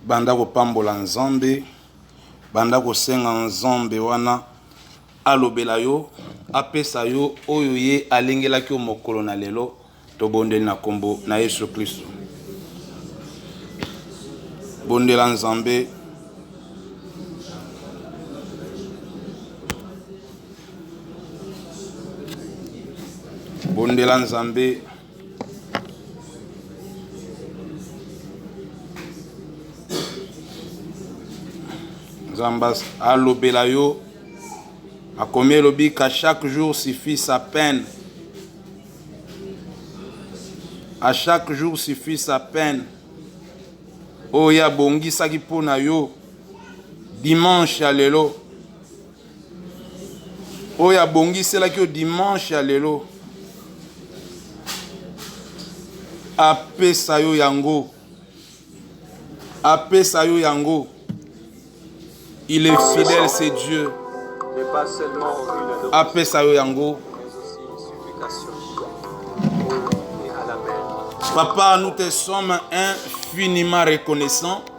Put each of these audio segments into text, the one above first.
banda kopambola nzambe banda kosenga nzambe wana alobela yo apesa yo oyo ye alengelaki yo mokolo na lelo tobondeli na nkombo na yesu kristo bondela nzambe bondela nzambe nzambe alobela yo akomi elobi ka chaque jour suffit sa peine à chaque jour suffit sa peine oyo ye abongisaki mpo na yo dimanche ya lelo oyo abongiselaki yo dimanche ya lelo apesa yo yango apesa yo yango il est fidèle c'est dieu apesa yo yango papa nous te sommes infiniment reconnaissants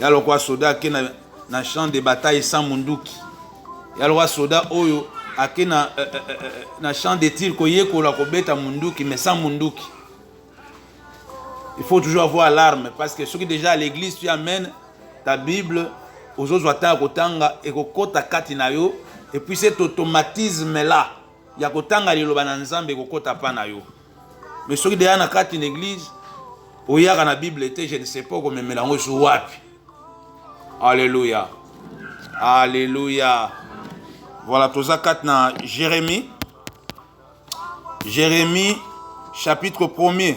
ya lokwa soda ake na, na champ de bataille sans munduki ya lokwa soda oyo ake na, eh, eh, eh, eh na champ de tir koyekola kobeta munduki mais sans munduki il faut toujours avoir l'arme parce que soki déjà à l'église tu amènes ta bible ozozwa ntango ya kotanga ekokota kati na yo epuis cet automatisme là ya kotanga liloba na nzambe ekokota mpa na yo mais soki deya na kati na eglise oyaka na bible te je ne sais pas okomemela yango esu wapi alleluya alleluya voilà toza kati na jérémie jérémie chapitre 1er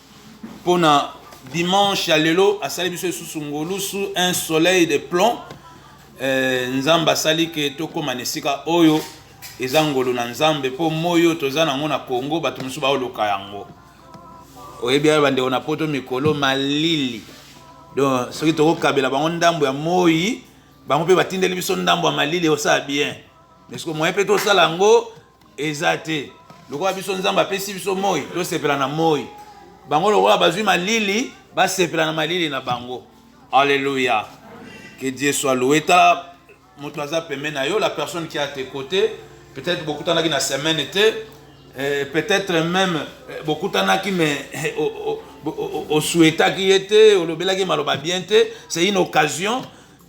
pona dimanche ya lelo asali biso lisusu ngolusu un soleil de plomb eh, nzambe asali ke tokóma na esika oyo eza ngolu na nzambe mpo moi oyo toza nango na congo bato mosusu baoluka yango oyebi ya bandeko na poto mikolo malili donc soki tokokabela bango ndambo ya moi bango mpe batindeli biso ndambo ya malili osala bien mais soki moye mpe tosala yango eza te lokola biso nzambe apesi biso moi tosepela na moi bango lokola bazwi malili basepela na malili na bango alleluya que dieu soit loué tala moto aza pembe na yo la personne qui a tes côtés peut-être bokutanaki na semaine te eh, peut-être même eh, bokutanaki mais eh, osuetaki ye te olobelaki maloba bien te c'est une occasion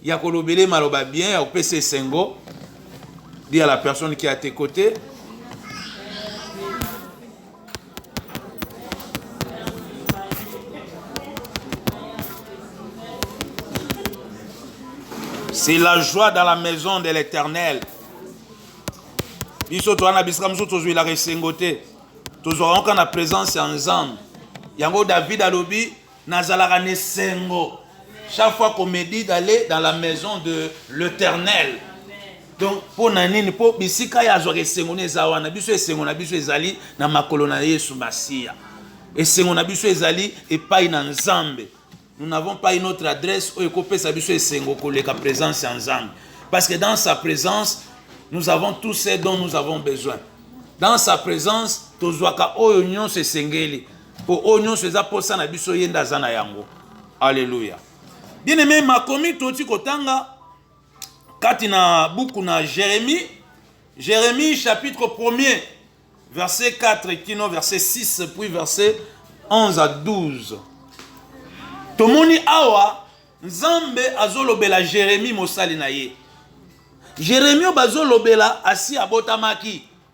ya kolobele maloba bien ya kopesa esengo dit à la personne qui est à tes côtés c'est la joie dans la maison de l'éternel biso toza na bisika mosusu tozwilaka esengo te tozwaka yango kaka na présence ya nzambe yango david alobi Nazalaka na esengo chaque fois qu'on me dit d'aller dans la maison de l'Éternel. Donc mpo na nini? Mpo bisika ye azwaka esengo na eza wana. Biso esengo na biso ezali na makolo na Yesu Masiya. Esengo na biso ezali epai na Nzambe. Nous n'avons pas une autre adresse oyo ekopesa biso esengo koleka présence ya Nzambe. Parce que dans sa présence, nous avons tout ce dont nous avons besoin. Dans sa présence, tozwaka oyo nyonso esengeli. mpo oyo nyonso eza mposa na biso ye nde aza na yango aleluya bien aime makomi toti kotanga kati na buku na jérémie jérémie chapitre 1er verset 4 kino verset 6 puis verset 11 à 12 tomoni awa nzambe azolobela jérémie mosali na ye jérémie oyo bazolobela asi abotamaki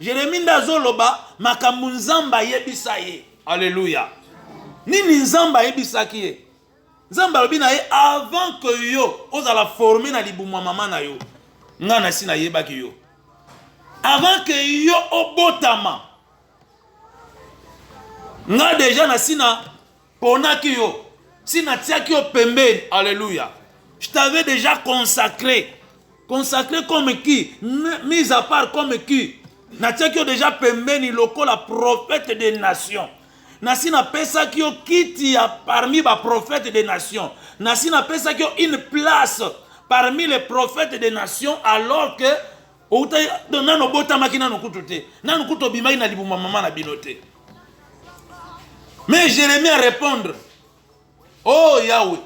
Jeremie nde azoloba makambo Nzambe ayebisa ye. Aleluya! Nini Nzambe ayebisaki ye? Nzambe alobi na ye avant que yo ozala forme na libumu ya mama na yo, ngai nasi nayebaki yo. Avant que yo obotama, ngai deja nasi na ponaki yo si natiaki yo pembeni alleluya je t'avais déjà consacré consacré comme qui mise à part comme qui natiaki yo déjà pembeni lokola prophète des nations nasi napesaki yo kiti ya parmi baprophète des nations nasi napesaki yo une place parmi les prophètes des nations alors que outa donc nano obotamaki nano kutu te nano kutu obimaki na libuma mama na bino te mais jérémie a répondre oh yawe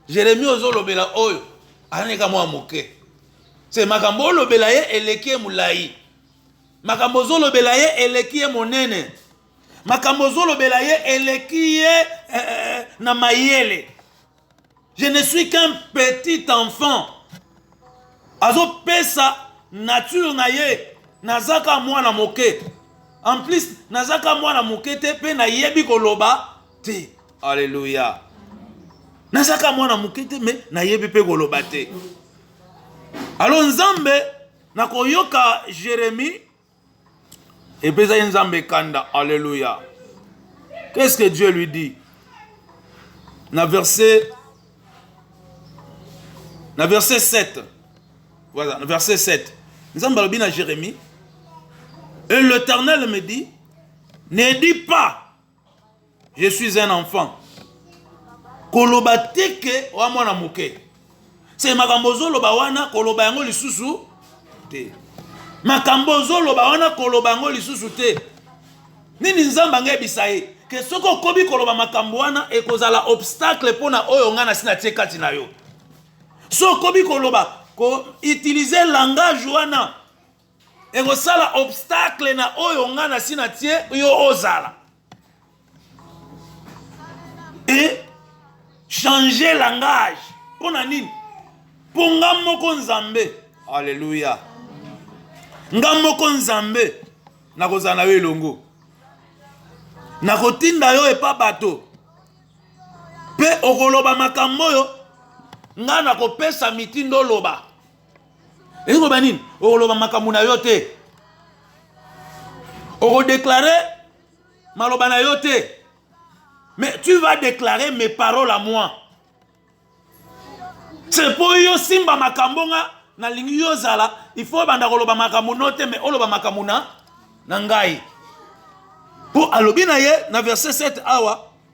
jérémie ozolobela oyo alaneka mwa moke se makambo olobela ye eleki ye molai makambo ozolobela ye eleki ye monene makambo ozolobela ye eleki ye eh, eh, eh na mayele Je ne suis qu'un petit enfant. Azopesa nature na ye nazaka mwana moke. En plus nazaka mwana moke te mpe nayebi koloba te. Alléluia. Nazaka mwana moke te mais nayebi mpe koloba te. Alors Nzambe nakoyoka Jérémie epesaki nzambe kanda alleluya qu'est ce que dieu lui dit na verset na verset 7 voilà na verset 7 nzambe alobi na jérémie et l'éternel me dit ne dis pas je suis un enfant koloba te ke oa mwana moke se makambo ozoloba wana koloba yango lisusu te makambo ozoloba wana koloba yango lisusu te nini nzambe angayebisa ye ke soki okobi koloba makambo wana ekozala obstacle mpo na oyo ngai nasi natie kati na yo so okobi koloba ko utilize langage wana ekosala obstacle na oyo nga na si na tie yo ozala e changer langage mpo na nini mpo nga moko nzambe alleluya nga moko nzambe nakozala na yo elongo nakotinda yo epa bato mpe okoloba makambo oyo ngai nakopesa mitindo oloba elingi koloba nini okoloba makambo na yo te okodeklare maloba na yo te mais tu vas déclarer mes paroles à moi se mpo yo simba makambo nga nalingi yo ozala il faut obanda koloba makambo no te mais oloba makambo na na ngai mpo alobi na ye na verset 7 awa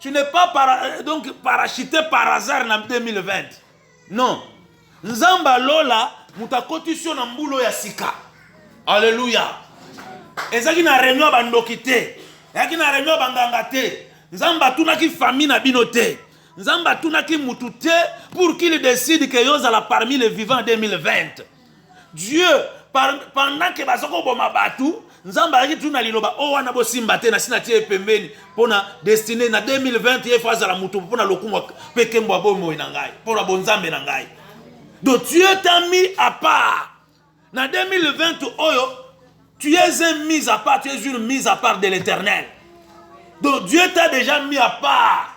Tu n'es pas para, euh, donc parachuté par hasard na 2020. Non. Nzamba lola moto akotisi yo na mbulo ya sika. Alléluia. Ezaki na réunion ba ndoki te. Ezaki na réunion ba nganga te. Nzamba atunaki famille na bino te. Nzamba atunaki mutu te pour qu'il décide que yo zala parmi les vivants 2020. Dieu pendant que baza koboma bato nzambe ayaki tu na liloba o oh, wana bosimba te nasi natie ye pembeni mpo na destine na 2020 ye fo azala moto mpo na lokumu mpe kembo ya bomoi na ngai mpo na bonzambe na ngai donc dieu tami apart na 2020 oyo Tu es un mis à part, tu es une mise à part de l'éternel. Donc Dieu t'a déjà mis à part.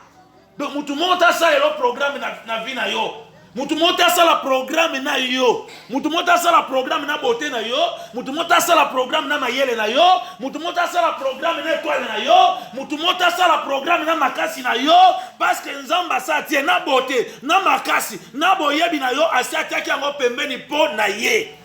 Donc mutu moko tasalela programme na, na vie na yo. Mutu moko tasala programme na yo. Mutu moko tasala programme na beauté na yo. Mutu moko tasala programme na mayele na yo. Mutu moko tasala programme na étoile na yo. Mutu moko tasala programme na makasi na yo. Parce que Nzamba sa tie na beauté, na makasi, na boyebi na yo, asi atiaki yango pembeni po na ye.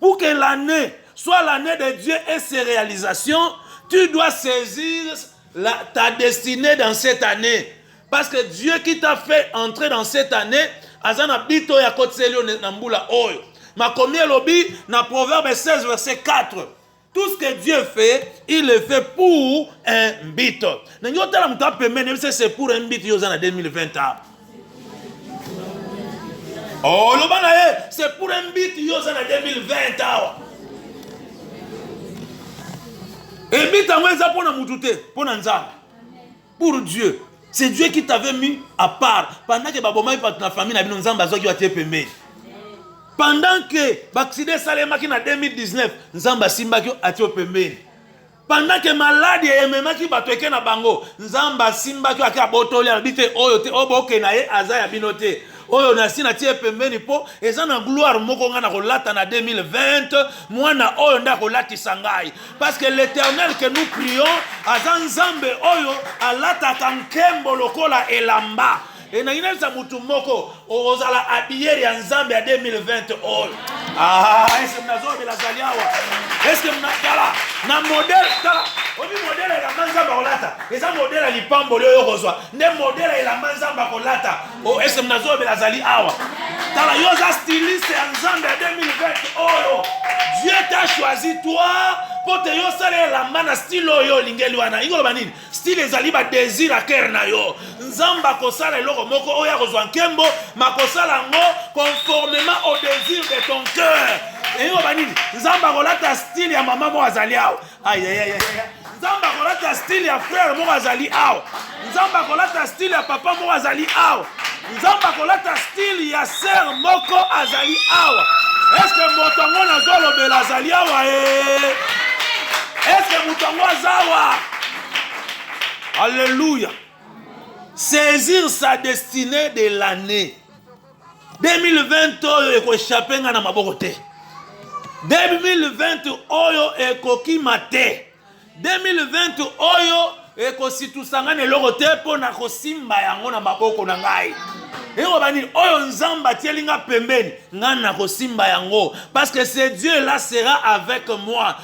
Pour que l'année soit l'année de Dieu et ses réalisations, tu dois saisir la, ta destinée dans cette année. Parce que Dieu qui t'a fait entrer dans cette année, azana bito ya kotseli na mbula oyo. Makomi elobi na Proverbe 16 verset 4. Tout ce que Dieu fait, il le fait pour un but. Na nyo tala mutu apembeni yebisa c'est pour un but yo oza na 2020 ans. Oh loba na ye c'est pour un but yo oza na 2020 awa. Ebita yango eza mpo na mutu te, mpo na Nzambe. pour Dieu c'est Dieu qui t'avait mis à part pendant que babomaki bato na famille na bino nzambe azwaki yo atie pembeni pendant que baksida esalemaki na 2019 nzambe asimbaki yo atie yo pembeni pendant que maladi ememaki bato eke na bango nzambe asimbaki yo ake abotoli alobi te oyo te oyo boke na ye aza ya bino te oyo nasi natie pembeni mpo eza na gloire moko ngai nakolata na 2020 mwana oyo nde akolatisa ngai parce que l'éternel que nous prions aza nzambe oyo alataka nkembo lokola elamba elingi nayebisa motu moko okozala abiyere ya nzambe ya 2020 oyo ah, eske mnazobela azali awa eske mnatala na modele tala obi modele elamba nzambe akolata eza modele ya lipamboli oyo okozwa nde modele ya elamba nzambe akolata Oh, est-ce que Nazo Belazali Awa? Tala, yo za styliste ya Nzambe ya 2020 oyo. Dieu t'a choisi toi mpo te yo osala elamba na style oyo olingeli wana ingo loba nini style ezali badésir ya kere na yo nzambe akosala eloko moko oyo akozwa nkembo makosala yango conformément au désir de ton cœur eyingo loba nini nzambe akolata style ya mama moko azali awa ayayaya nzambe akolata style ya frere moko azali awa nzambe akolata style ya papa moko azali awa nzambe akolata style ya sere moko azali awa eske moto yango nazolobela azali awa e eh? eske moto yango azawa alleluya saisir sa destinée de l'année 2020 oyo ekochape nga na maboko te 2020 oyo ekokima te 2020 oyo ekositusa nga na eloko te mpo na kosimba yango na maboko na ngai ekoba nini oyo nzambe atieli nga pembeni ngai nakosimba yango parce que ce dieu là sera avec moi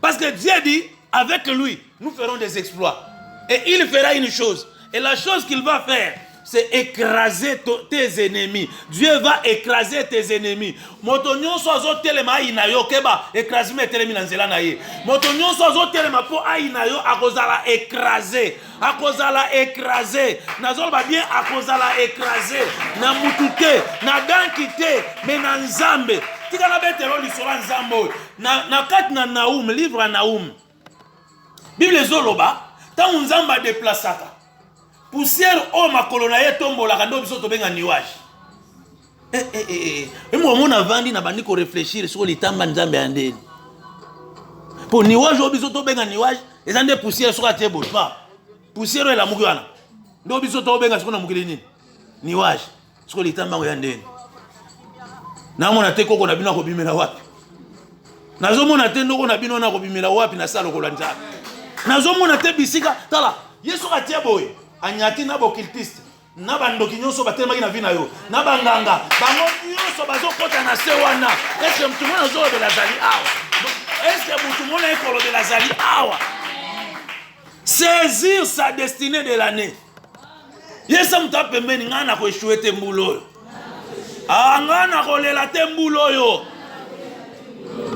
Parce que Dieu dit, avec lui, nous ferons des exploits. Et il fera une chose. Et la chose qu'il va faire, c'est écraser tes ennemis. Dieu va écraser tes ennemis. Moto nyonso azo telema ayina yo keba écrasement etelemi na nzela na ye. Moto nyonso azo telema po ayina yo akozala écraser. akozala écrase nazoloba bien akozala écrase na mutu te na danki te me na nzambe tika nabetelo lisolo ya nzambe oyo na, na kati na naum livre ya naum bible ezoloba ntango nzambe adeplasaka pusiere oyo makolo na ye etombolaka nde biso tobenga nuage eh, eh, eh, eh. momo navandi nabandi koreflechir soko litanga nzambe ya ndeni mpo niwage oyo biso tobenga niwage eza nde poussière soko atie boye pa poussière oyo elamuki wana nde biso tobenga soko na mokili nini niwage soko litanga yango ya ndeni namona te koko na bino akobimela wapi nazomona te ndoko na bino nakobimela wapi na sala lokola nzambe nazomona te bisika tala ye soki atie boye anyati na bokiltiste na bandoki nyonso batelemaki na vi na yo na banganga bango nyonso bazokɔta na se wana eske motu mona azolobela azali awa eske motu mona ye kolobela azali awa saisir sa destinée de l'année yesa moto apembeni ngai nakoeshue te mbula oyo ah, nga nakolela te mbula oyo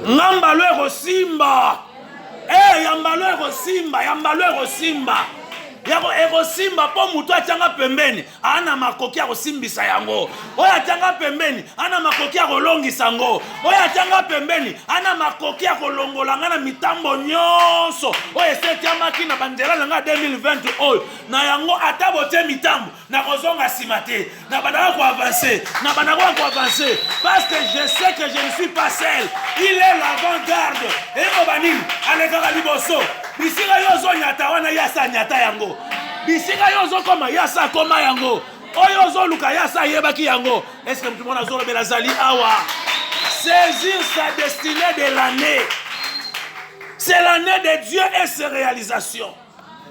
nga mbalo ekosimba ee eh, ya mbalo ekosimba ya mbalo ekosimba yako ekosimba mpo motu atyanga pembeni ana makoki ya kosimbisa yango oyo atyanga pembeni ana makoki ya kolongisa yango oyo atyanga pembeni ana makoki ya kolongola ngai na mitambo nyonso oyo esetyamaki na banzela na ngai 2020 oyo na yango ata botye mitambo nakozonga nsima te nabandaka koavanse nabandaka koavanse parce que je sais que je ne suis pas seul il est l'avant garde ekoba nini alekaka liboso bisika yo ozonyata wana ye asa anyata yango bisika yo ozokoma ye asa akoma yango oyo ozoluka ye asa ayebaki yango estce motu mona azolobela azali awa saisir sa destinée de l'année c'est l'année de dieu et ses réalisations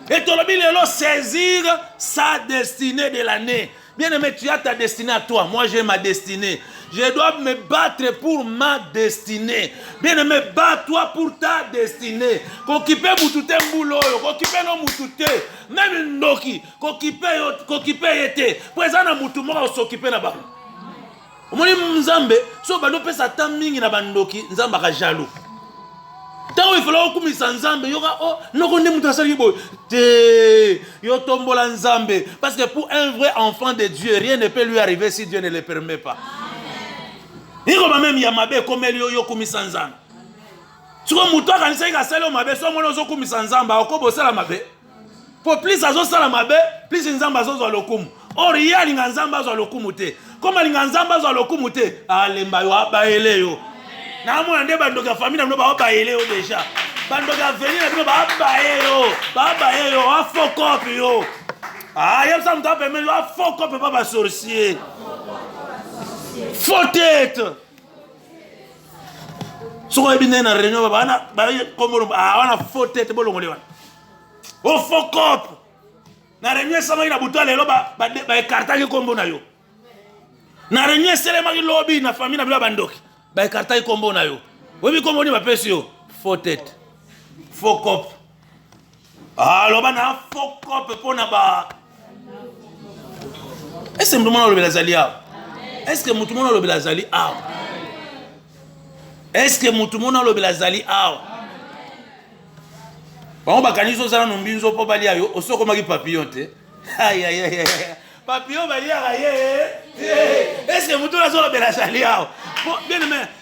Et tolobi lelo saisir sa destinée de l'année. Bien aimé, tu as ta destinée à toi. Moi, j'ai ma destinée. Je dois me battre pour ma destinée. Bien aimé, bats-toi pour ta destinée. Kokipe mutute mbulo yo, kokipe no mutute. Même ndoki, kokipe yo, kokipe yete. Pweza na mutu moko sokipe na bango. omoni nzambe so bando pesa ata mingi na bandoki nzambe aka jaloux ntango efala okumisa nzambe yoka o oh, noko nde moto asalaki boye te yo tombola nzambe parce que pour un vrai enfant de dieu rien ne peut lui arriver si dieu ne le permet pas ikoba meme ya mabe ekomeli yo yokumisa nzambe sikoyo moto akanisaki asali yo mabe so omoni ozokumisa nzambe akoki bosala mabe po plus azosala mabe plus nzambe azozwa lokumu or ye alinga nzambe azwa lokumu te koma alinga nzambe azwa lokumu te alemba yo abayele yo namona nde bandoki ya famille na bino baobayele yo deja bandoki ya veni na bino babaye yo babaye yo afokope yo ayebisa ah, moto apemeli yo afokope pa basorcier faux tete soki oyebi ndenge na réunion babana bakomoloba ah, wana faux tete bolongoli wana o oh, faux cop na réunion esamaki na butu ya lelo baekartaki nkombo na yo na réunion eselemaki lobi na famille na bino ya bandoki baekartaki nkombo na yo oyebi nkombo nini bapesi yo faux tete faux cop aloba na fokope mpo na ba ese moto mona olobela azali awa eske moto mona olobela azali awa eske moto mona olobela azali awa bango bakanisi ozala no mbinzo mpo balia yo osi okomaki papillon te Papillon baliaka ye eh, eske moto oyo azolobela azali awa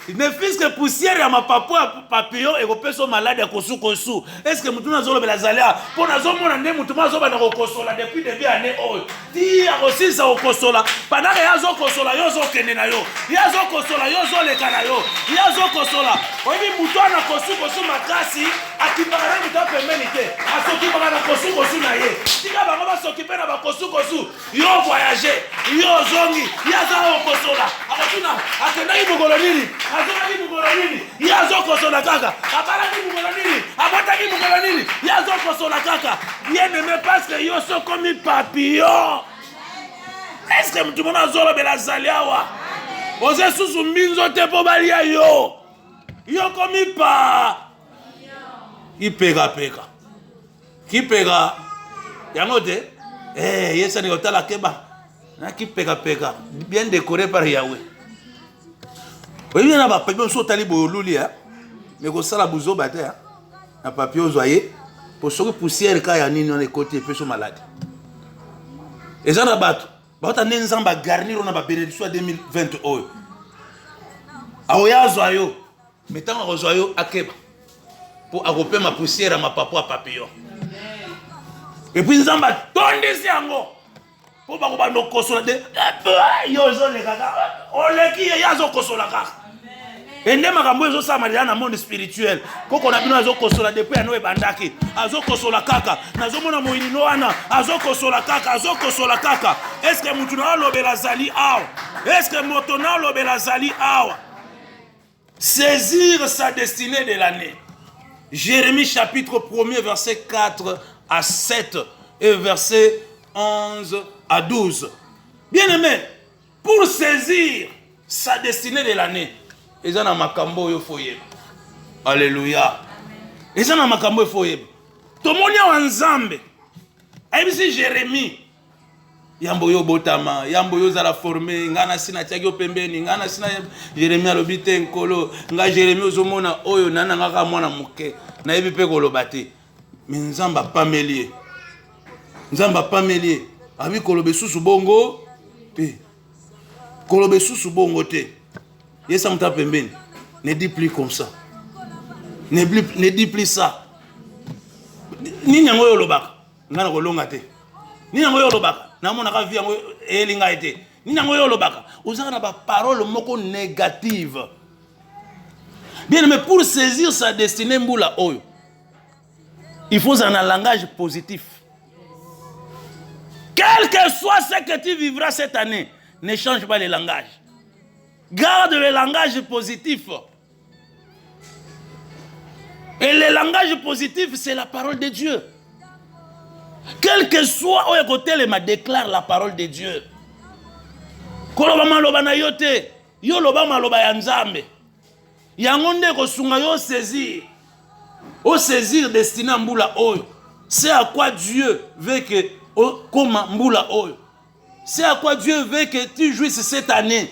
ne fiske poussière ya mapapo ya papillon ekopesa yo maladi ya kosukosu eske moto oyo azolobela azali awa mpo nazomona nde moto mo azobanda kokosola depuis debut année oyo ti akosilisa kokosola pandaka ye azokosola yo ozokende na yo ye azokosola yo ozoleka na yo ye azokosola oyebi moto wana kosukosu makasi akipaka na mito pembeni te asokipaka na kosukosu na ye tika bango basokipe na bakosukosu yo voyage yo ozongi ye aza okosola akotuna akendaki mokolo nini azongaki mokolo nini ye azokosola kaka abalaki mokolo nini abotaki mokolo nini ye azokosola kaka ye neme paske yo sokomi papillon eske motu mona azolobela azali awa oza esusu mbinzo te mpo balia yo yo komi pa kipekapeka kipeka yango te eh, yesani kotala keba na kipekapeka bien décoré par yawe oyebi na bapapie mosusu otali boye oluli ya me kosala buzoba te na papie ozwa ye mpo soki poussière ka ya nini wana ekoti epeso maladi eza na bato bauta nde nzambe agarnir na babenediction ya 2020 oyo aoya azwa yo Mais tango akozwa yo akeba mpo akopema poussière ya mapapu ya papillon epuis nzambe atondisi yango mpo bakobanda okosola te eh, yo ozoleka kaka oleki ye ye azokosola kaka ende makambo oyo ezosalama lela na monde spirituel koko na bino azokosola depuis yano ebandaki azokosola kaka nazomona moyinino wana azokosola kaka azokosola kaka eske motu na olobela azali awa eske moto na olobela azali awa Saisir sa destinée de l'année. Jérémie chapitre 1er verset 4 à 7 et verset 11 à 12. Bien aimé, pour saisir sa destinée de l'année, eza na makambo oyo faut yeba. Alléluia. Eza na makambo oyo faut yeba. Tomoni awa Nzambe ayebisi Jérémie yambo yo obotama yambo yo ozala forme ngai nasi natiaki yo pembeni ngai nasi na jeremi alobi te nkolo ngai jeremi ozomona oyo nani na ngai kaka mwana moke nayebi mpe koloba te me nzambe apameli ye nzambe apameli ye abi koloba esusu bongo te koloba esusu bongo te yesa moto ya pembeni ne dit plus comme ça ne dit plus ça nini yango oyo olobaka nga na kolonga te nini yango yo olobaka namonaka vi yango eyeli ngai te nini yango yo olobaka ozaka na baparole moko négative bien mais pour saisir sa destinée mbula oyo il faut ozala na langage positif quel que soit ce que tu vivras cette année ne change pas le langage garde le langage positif Et le langage positif, c'est la parole de Dieu. Quel que soit oyo ekotelema déclare la parole de Dieu. Koloba maloba na yo te, yo loba maloba ya Nzambe. Yango nde ekosunga yo saisir. O saisir destiné ya mbula oyo. C'est à quoi Dieu veut que okoma mbula oyo. C'est à quoi Dieu veut que tu jouisses cette année.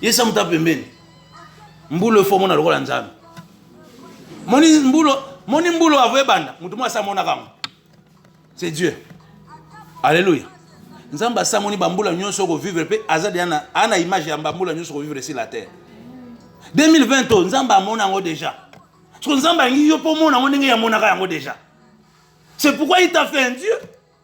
yesa moto pembeni mbulo efo omona lokola nzambe moni mbulo moni mbulo avo ebanda moto moko asamonaka yango c'est dieu alleluya nzambe asamoni bambula nyonso okovivre mpe aza deya na, ana image ya bambula nyonso okovivre sur la terre 2020 to nzambe amona yango deja soko nzambe alingi yo mpo omona yango ndenge yamonaka yango deja c'est pourquoi il t'a fait un dieu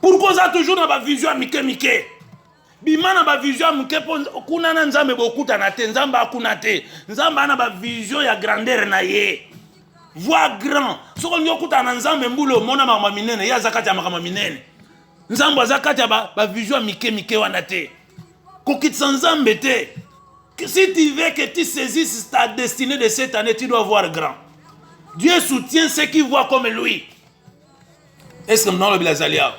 Pourquoi oza toujours na ba vision ya mike mike? Bima na ba vision ya mike mpo kuna na Nzambe bokutana te, Nzambe akuna te. Nzambe ana ba vision ya grandeur na ye. Voix grand. Soki olingi okutana na Nzambe mbula omona makambo minene, ye aza kati ya makambo minene. Nzambe aza kati ya ba, ba vision ya mike mike wana te. Kokitisa Nzambe te. Si tu veux que tu saisisses ta destinée de cette année, tu dois voir grand. Dieu soutient ceux qui voient comme lui. Est-ce que mna lobela zali awa?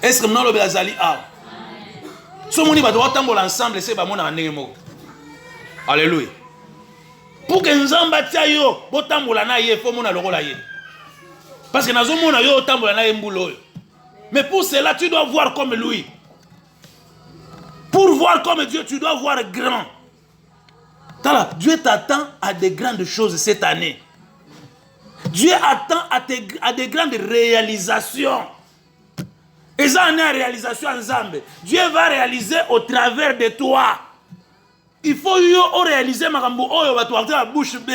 Est-ce que mna lobela zali awa? So moni bato batambola ensemble se bamonaka ndenge moko. Alléluia. Pour que Nzambe atia yo botambola na ye faut mona lokola ye. Parce que nazo mona yo otambola na ye mbula oyo. Mais pour cela tu dois voir comme lui. Pour voir comme Dieu, tu dois voir grand. Tala, Dieu t'attend à de grandes choses cette année. Dieu attend à, te, à de grandes réalisations. Et ça en est à réalisation ensemble. Dieu va réaliser au travers de toi. Il faut yo o réaliser makambo oyo bato bakota na bouche B.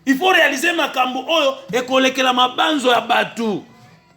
Il faut réaliser makambo oyo ekolekela mabanzo ya bato.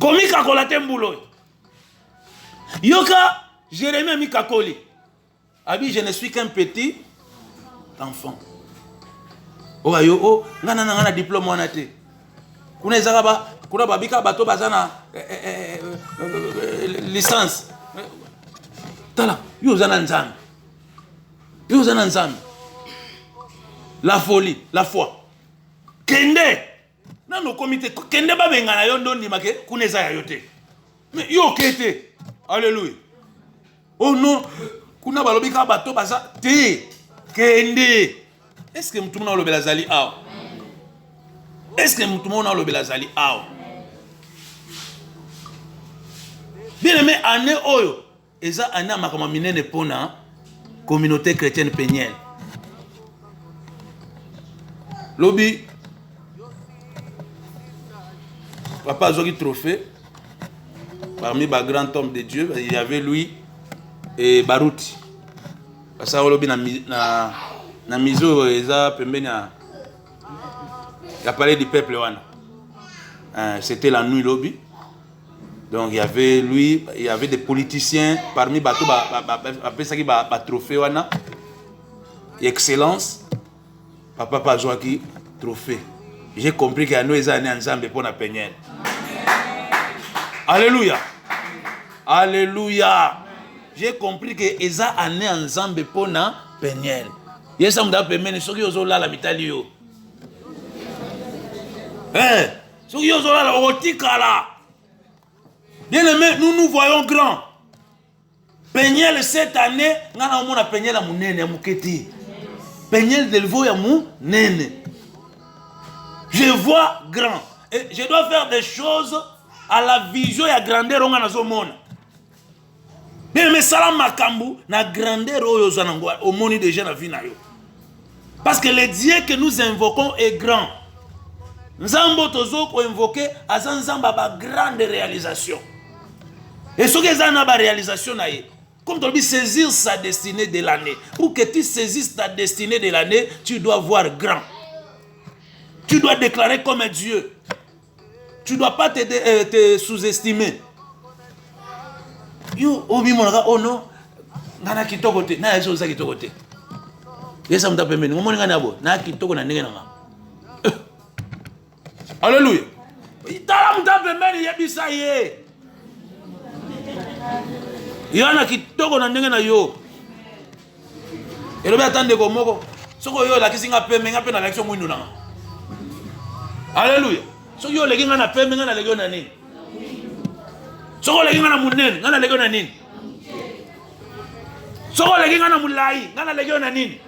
komikakola te mbula oyo yoka jeremi amikakoli abi je ne suis qu'un petit enfant oyo ayo o oh, ngai nana ngai na diplome wana te kuna ezaka ba kuna babika bato baza na eh, eh, eh, licence tala yo oza na nzambe yo oza na nzambe la folie la foi kende nanu okomi te kende babengana yo nde ondima ke kuna eza ya yo te mais yo oke te alleluia oh non kuna balobi kaka bato baza te kende eske motu mona olobela azali awa eske motu mona olobela azali awa bien aime année oyo Eza un ya makambo minene pona communaute chretienne penielle. Lobi papa azwaki trophée parmi ba grand homme de Dieu, il y avait lui et Baruti. Basa lobi na na na mizo eza pembeni ya ya palais du peuple wana. Euh, c'était la nuit lobi. Donc il y avait lui, il y avait des politiciens parmi bato bapesaki ba, ba, ba, ba trophée wana excellence papa pa azwaki trophée j'ai compris que yano eza ane ya nzambe mpo na peniel alleluya alleluya j'ai compris que eza ane ya nzambe mpo na peniel yesa moto apemeni soki ozolala mitali yo eh, soki yo ozolala okotikala bien aimé nous nous voyons grand peniel cette année nga na omona peniel ya monene ya moke te peniel delvo ya monene je vois grand et je dois faire des choses à la vision ya grandeur onga nazomona bien aime sala makambu na grandeur oyo oza nango omoni deja na vie na yo parce que le dieu que nous invoquons est grand nzambe oyo tozo koinvoke aza nzambe ya bagrande réalisation e soki eza na baréalisation na ye comme tolobi saisir sa destinée de l'année pour que tu saisisses ta destinée de l'année tu dois voir grand tu dois déclarer comme dieu tu dois pas te, euh, te sous-estimer yo omimonaka oh, oh non nga na kitoko te na yaki oza kitoko te yesa moto pembeni omoni nga na boye na kitoko na ndenge na nga eh. alleluya tala moto pembeni yebisa ye yo na kitoko na ndenge na yo elobi ata ndeko moko soki oyo olakisi nga pembe nga mpe nalakisi yo mwindo nanga aleluya soki yo oleki nga na pembe nga naleki yo na nini soki oleki nga na monene nga naleki yo na nini soki oleki nga na molai nga naleki yo na nini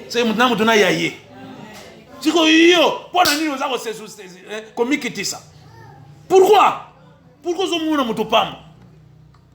se motu na motu na ya ye sikoyo yo mpo na nini oza eh, komikitisa pourkui pourkui ozomona moto pamba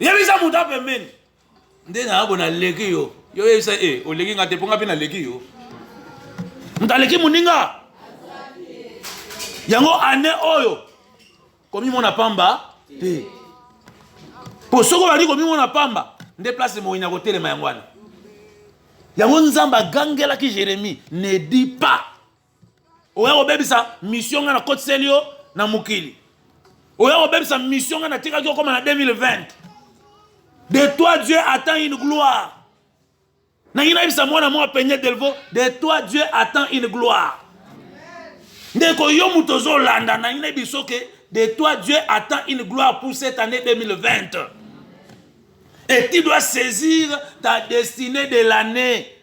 yebisa moto apembeni nde nayabo naleki yo yo oyebisa e eh, oleki nga te mpo nga mpe naleki yo moto aleki moninga yango ane oyo komimona pamba te mpo soki obandi komimona pamba nde place moyini akotelema yango wana yango nzambe agangelaki jeremie ne di pas oya kobebisa mission ngai nakotiseli yo na mokili oya kobebisa mission ngai natikaki okoma na 2020 de toi dieu attend une gloire nangi nayebisa mwana mwa peigne delvo de toi dieu attend une gloire ndeko yo moto ozolanda nangi nayebi soki de toi dieu attend une gloire pour cette année 2020 et tu dois saisir ta destinée de l'année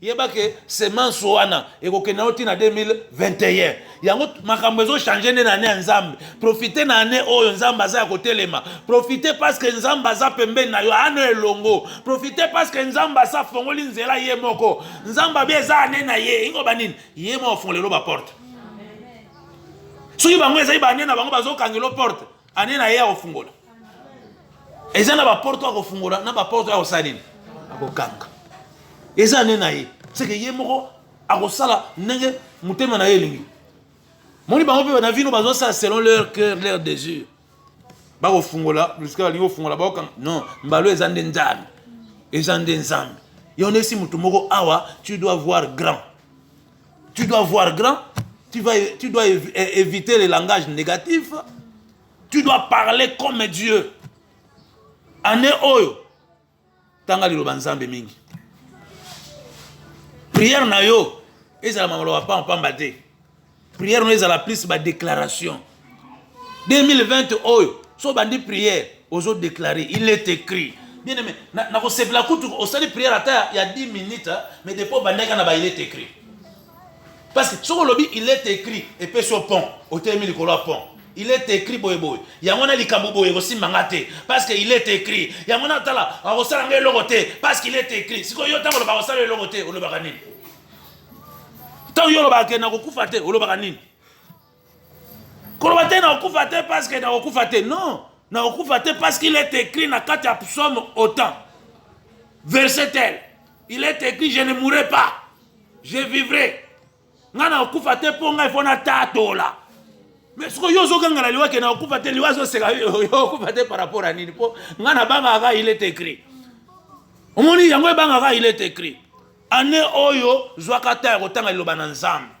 yeba ke semence wana ekokende yango ntina 2021 yango makambo ezochange nde na ane ya nzambe profite na ane oyo nzambe aza ya kotelema profite parceke nzambe aza pembeni na yo ane elongo profite parceke nzambe asi afongoli nzela ye moko nzambe abi eza ane na ye ingo banini ye moko afongolelo baporte soki bango ezali bane na bango bazokangelo porte ane na ye akofungola eza na baporte oyo akofungola na baporte oyo akosala nini akokanga eza ane na ye seke ye moko akosala ndenge motema na ye elingi moni bango mpe na vino bazosala selon leur cœur leur désir bakofungola jusqu balingi kofungola baokanga non mbalo eza nde nzambe eza nde nzambe yo nesi motu moko awa tu dois voir grand Tu dois voir grand, tu, vas, tu dois éviter les langages négatifs, tu dois parler comme Dieu. Année oyo, tanga liloba nzambe mingi. Prière na yo, ezala mamaloba pamba te. Prière na yo ezala plus ba déclaration. 2020 oyo so bandi prière ozo déclarer il est écrit bien aimé nakosepela kutu osali prière ata ya 10 minutes mais depo obandaki na ba il est écrit parce que soki olobi il est écrit epesi yo pont otelemi likolo ya pont il est écrit boye boye yango wana likambo boye ekosimba nga te parce que il est écrit yango wana tala akosala nga eloko te parce qu'il est écrit sikoyo yo ntango olobaka osala eloko te olobaka nini ntango yo olobaka ke nakokufa te olobaka nini koloba te nakokufa te parce que nakokufa te non nakokufa te parce qu'il est écrit na kati ya psaume autant verset tel il est écrit je ne mourrai pas je vivrai ngai nakokufa te mpo ngai mpo natatola mais sikoyo yo ozoganga na liwa ke nakokufa te liwa azoseka yo okufa te par rapport ya nini mpo ngai nabangaka kaka il est écrit omoni yango ebangaka il est écrit ane oyo zwaka ta ya kotanga liloba na nzambe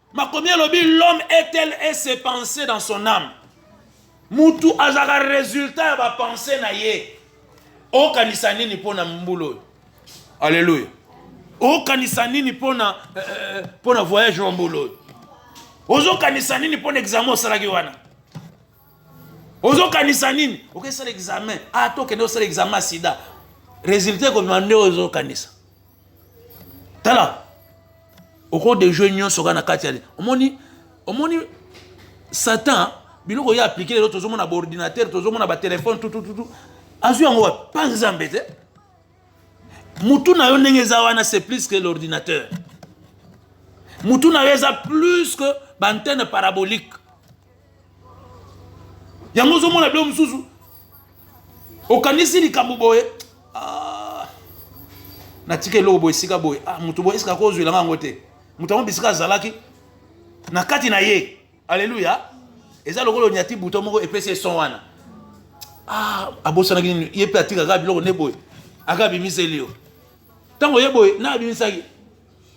makomi elobi l'homme est tel et se penser dans son âme mutu azalaka résultat ya bapense na ye okanisa nini mpo na mbula oyo alleluya okanisa nini mpo na eh, eh, eh, mpo na voyage wa mbula oyo ozokanisa nini mpo na examen osalaki wana ozokanisa nini okesala examen ata ah, okende osala examen ya sida résultat ekobima nde ozokanisa tala oko dejoue nyonso kaka na kati ya omoni omoni satan biloko ye aplike lelo tozomona baordinateur tozomona batelefone tutututu azwi yango wapi mpa nzambe te mutu na yo ndenge eza wana c'est plus que l'ordinateur mutu na yo eza plus que baantenne parabolique yango ozomona bilo mosusu okanisi likambo boye ah, natika eloko boye esika boye ah, moto boye esika kozwela nga yango te moto yango bisika azalaki na kati na ye aleluya eza lokola onyati buto moko epesi eson wana ah, abosanaki nini ye mpe atikaka biloko nde boye aka abimiseli yo ntango ye boye na abimisaki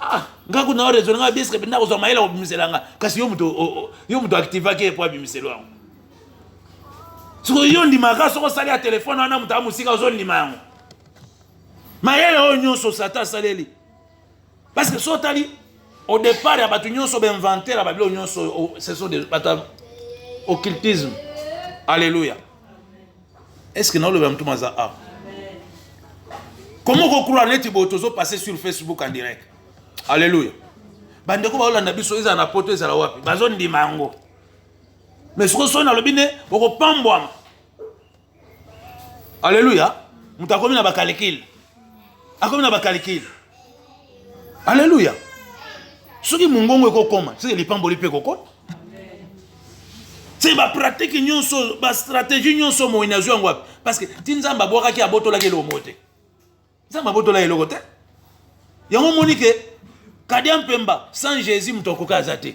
ah nga kuna raisonne nga biesque penda kozwa mayele kobimisela nga kasi yo moto yo moto activaki ye mpo abimiselo yango sikoyo yo ndimaka soko osali ya telefone wana moto amosika ozondima yango mayele oyo nyonso satan asaleli parce que so otali au départ ya bato nyonso bainventer ya babilo nyonso ce sont bato ya occultisme alleluya est ce que na olobela mutu maza a comment ko croire neti bo tozo passer sur facebook en direct alléluia bandeko baolanda biso ezala na poto ezala wapi bazondima yango mais sikoyo soki nalobi nde okopambwama alleluya moto akomi na bakalikile akomi na bakalikile aleluya soki mongongo ekokoma soki lipamboli mpe ekokota se bapratike nyonso bastratégie nyonso moi nazwi yango wapi parce que ti nzambe abwakaki abotolaki eloko moko te nzambe abotolaki eloko te yango omoni ke kadia mpemba sans jésus moto akoki aza te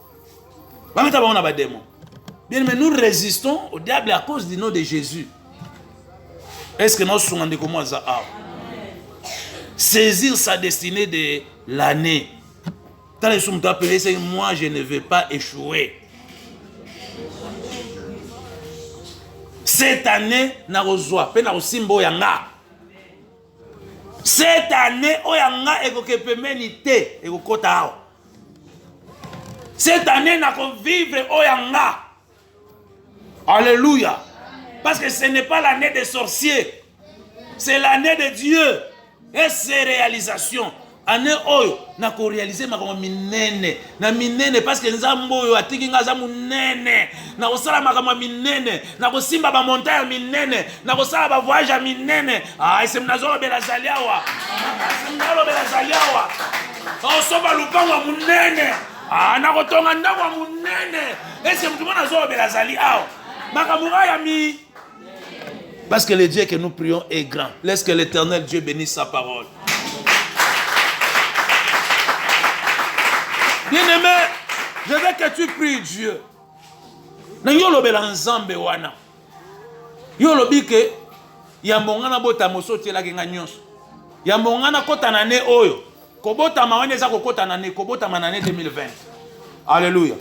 Bameta bango na bademo. Bien mais nous résistons au diable à cause du nom de Jésus. Est-ce que naosunga ndeko mwa aza awa? Saisir sa destinée de l'année. Tala Yesu moto apele ese moi je ne veux pas échouer. Cette année nakozwa mpe nakosimba oyo ya nga. Cette année, oyo ya nga ekoke pembeni te, ekokota awa. Cette année, nako vivre oyo ya nga. Alléluia. Parce que ce n'est pas l'année des sorciers. C'est l'année de Dieu. Et ses réalisations. Année oyo na ko realiser makambo minene na minene parce que nzambe oyo atiki nga aza munene na kosala makambo ya minene na kosimba ba montant ya minene na kosala ba voyage ya minene ah ese nazolobela zali awa nazolobela zali awa osomba lupango ya munene ah na kotonga ndako ya munene ese motu mwana azolobela zali awa makambo ya mi Parce que le Dieu que nous prions est grand. Laisse que l'éternel Dieu bénisse sa parole. Bien-aimé, je veux que tu pries Dieu. Na yo lobela nzambe wana. Yo lobi ke yambo nga na bota moso otielaki nga nyonso. Yambo nga na kota na ne oyo Kobotama wana eza kokota na ne kobotama na année 2020. Alléluia.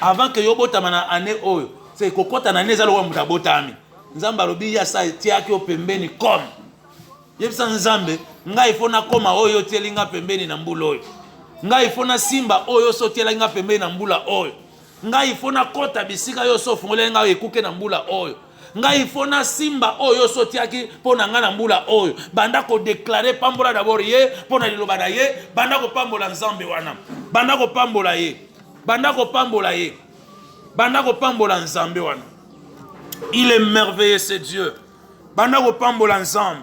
Avant que yo botama na année oyo, c'est kokota na année eza lokola moto abotami. Nzambe alobi ya sa etiaki yo pembeni comme. Yebisa Nzambe, ngai ifo nakoma oyo otieli nga pembeni na mbula oyo. Ngai ifo nasimba oyo sotielaki nga pembeni na mbula oyo. ngai ifo nakɔta bisika yo so ofungoleli ngai ekuke na mbula oyo ngai ifo nasimba oyo oso otiaki mpo na ngai na mbula oyo banda kodeklare pambola dabord ye mpo na liloba na ye banda kopambola nzambe wana banda kopambola ye banda kopambola ye banda kopambola nzambe wana il est merveilleux ce dieu banda kopambola nzambe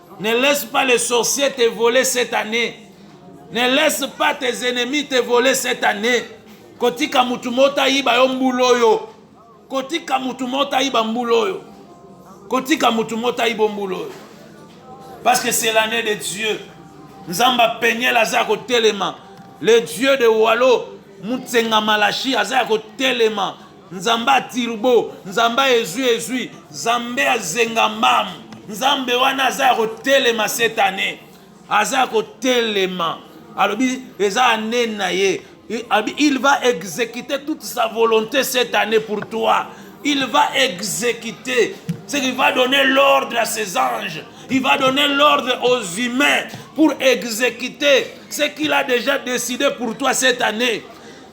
Ne laisse pas les sorciers te voler cette année. Ne laisse pas tes ennemis te voler cette année. Kotika mutu mota yiba yo mbulo yo. Kotika mutu mota yiba mbulo yo. Kotika mutu mota yiba mbulo yo. Parce que c'est l'année de Dieu. Nzamba peignel aza ko telema. Le Dieu de Walo Mutsenga Malachi aza ko telema. nzambe ya turbo nzambe ya ezwi ezwi nzambe ya zenga mamu nzambe wana aza ya kotelema cette année aza ya kotelema alobi eza ane na ye il va exécuter toute sa volonté cette année pour toi il va exécuter c'est qu'il va donner l'ordre à ses anges il va donner l'ordre aux humains pour exécuter ce qu'il a déjà décidé pour toi cette année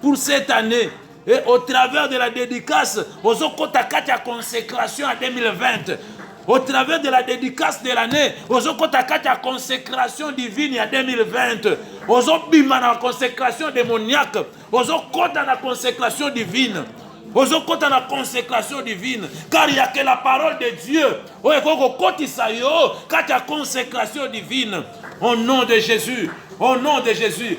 pour cette année et au travers de la dédicace ozokota kati ya consécration ya 2020 au travers de la dédicace de l'année ozokota kati ya consécration divine ya 2020 ozobima na consécration démoniaque ozokota na consécration divine ozokota na consécration divine car ya que la parole de dieu oyo ekoki kokotisa yo kati ya consécration divine au nom de jésus au nom de jésus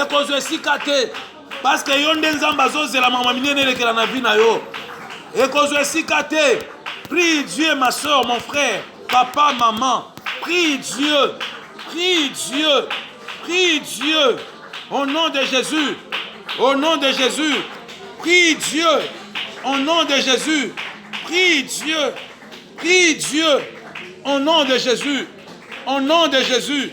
ekozwa esika te parceke yo nde nzambe azozela mama minene elekela na vi na yo ekozwa esika te prie dieu ma soeur mon frère papa maman prie dieu prie dieu prie dieu au nom de jésus au nom de jésus prie dieu au nom de jésus prie dieu prie dieu au nom de jésus au nom de jésus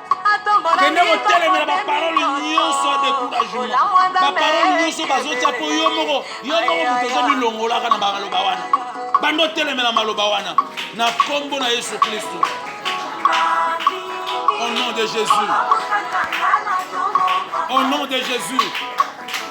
kende kotelemela baparole nyonso ya decouragement baparole nyonso bazotya mpo yo moko yo moko moto oza milongolaka na bamaloba wana bando otelemela maloba wana na nkombo na yesu kristo au nom de jésus au nom de jésus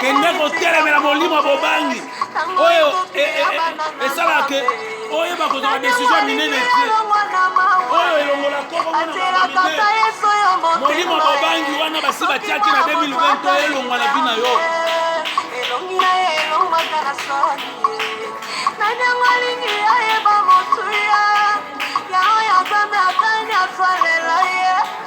kende kotelemela molimo bobangi oyo e, e, e, esalaka ke oyeba kozala desizio minene te oyo elongola molimo bobangi wana basi batiaki na 2020 oyo elongwa na bina yo nani yango alingi ayeba motuya yango ya nzambe atani asalela ye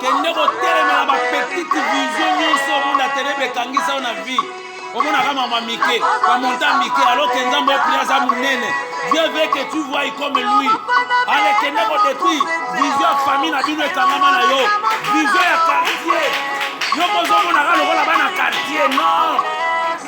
kende kotelemela bapetite vision nyonso omona telebe ekangisa yo na vie omonaka mama mike bamonta mike aloke nzambe opri aza monene dieu veut que tu vois comme lui ale kende kodetruire vision ya famille na bino ekangama na yo vision ya quartier yo kozomonaka lokola bana quartier non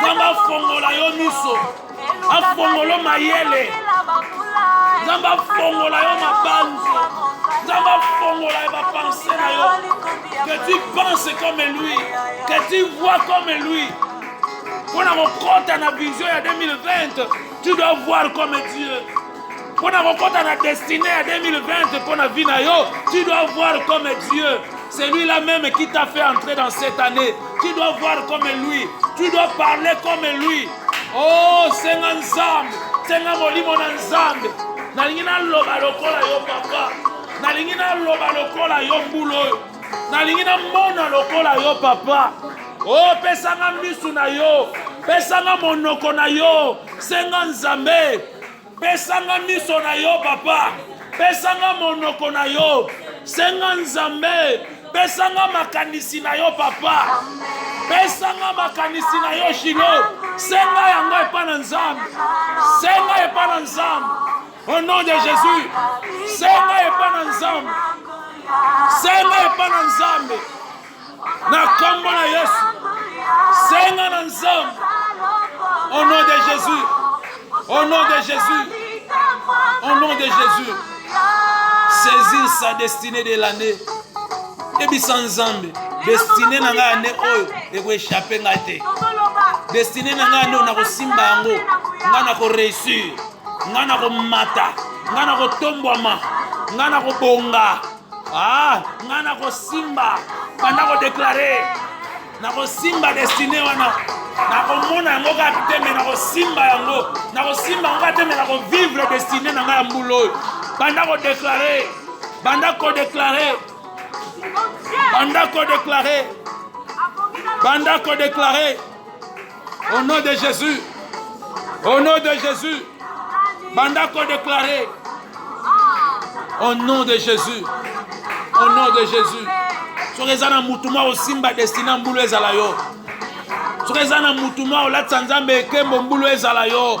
nzambe afongola yo miso afongolo mayele nzambe afongola yo mabanzo nzambe afongola ya bapense na yo que tu penses comme lui que tu vois comme lui mpo na kokɔta na vision ya 2020 tu dois voir comme dieu mpo na kokɔta na destine ya 2020 mpo na vie na yo tu dois voir comme dieu Celui là même qui t'a fait entrer dans cette année, tu dois voir comme lui, tu dois parler comme lui. Oh, senga nzambe, senga molimo na nzambe. Nalingi naloba lokola yo papa, nalingi naloba lokola yo mbula oyo, nalingi namona lokola yo papa. Oh, pesanga misu na yo, pesanga monoko na yo, senga nzambe. pesa nga miso na yo papa pesa nga monoko na yo senga nzambe pesa nga makanisi na yo papa pesa nga makanisi na yo shilo senga yango epa na nzambe senga epa na nzambe au nom de jésus senga epa na nzambe senga epa na nzambe Na kombo na Yesu. Senga na Nzambe. Au nom de Jésus. Au nom de Jésus. Au nom de Jésus. Saisir sa destinée de l'année. Ebisa Nzambe. Destinée na ngai année oyo ekoechappe ngai te. Destinée na ngai année oyo nakosimba yango. Ngai nakoreusir. Ngai nakomata. Ngai nakotombwama. Ngai nakobonga. Ah, nga nakosimba banda kodeklare nakosimba destine wana nakomona yango kaka te me nakosimba yango nakosimba yango kaka te me nakovivre destine na ngai ya mbula oyo banda kodeklare banda kodeklare banda kodeklare banda kodeklare Au nom de Jésus. Au nom de Jésus. Banda ko déclarer. Au nom de Jésus. Au nom de Jésus. soki eza na motu mwa osimba destine ya mbulu ezala yo soki eza na motu mwa olatisa nzambe ekembo mbulu ezala yo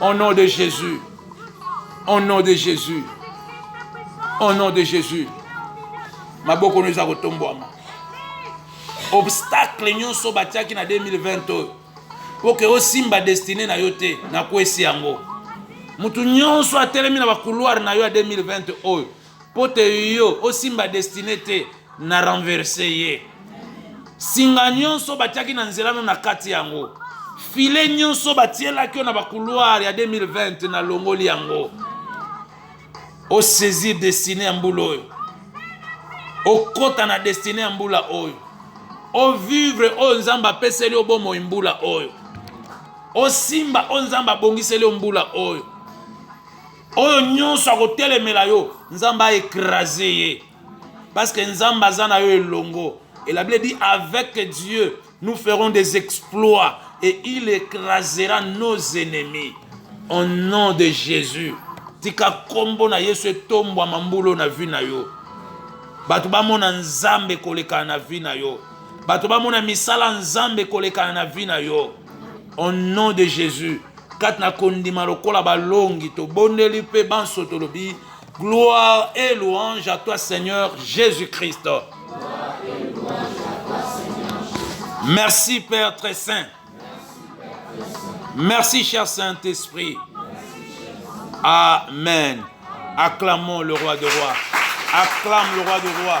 Au nom de Jésus. Au nom de Jésus. Au nom de Jésus. maboko no eza kotombwama obstacle nyonso batiaki na 2020 oyo mpo ke osimba destine na yo te nakwesi yango moto nyonso atelemi na bakouloire na yo ya 2020 oyo po te yo osimba destine te na renverse ye singa nyonso batiaki na nzela no na kati yango file nyonso batielaki yo na bakuluare ya 2020 na longoli yango osaisir destine ya mbula oyo okota na destine ya mbula oyo ovivre oyo nzambe apeseli yo bomoi mbula oyo osimba oyo nzambe abongiseli yo mbula oyo oyo nyonso akotelemela yo nzambe aekrase ye parce que nzambe aza na yo elongo et la bible dit avec dieu nous ferons des exploits et il écrasera nos ennemis au nom de jésus tika nkombo na yesu etombwama mbulo na vi na yo bato bamona nzambe kolekana na vi na yo bato bamona misala nzambe kolekana na vi na yo au nom de jésus kati na kondima lokola balongi tobondeli mpe banso tolobi gloire et louange à toi seigneur jésus christ merci père très saint merci cher saint esprit amen acclamons le roi de roi acclame le roi de roi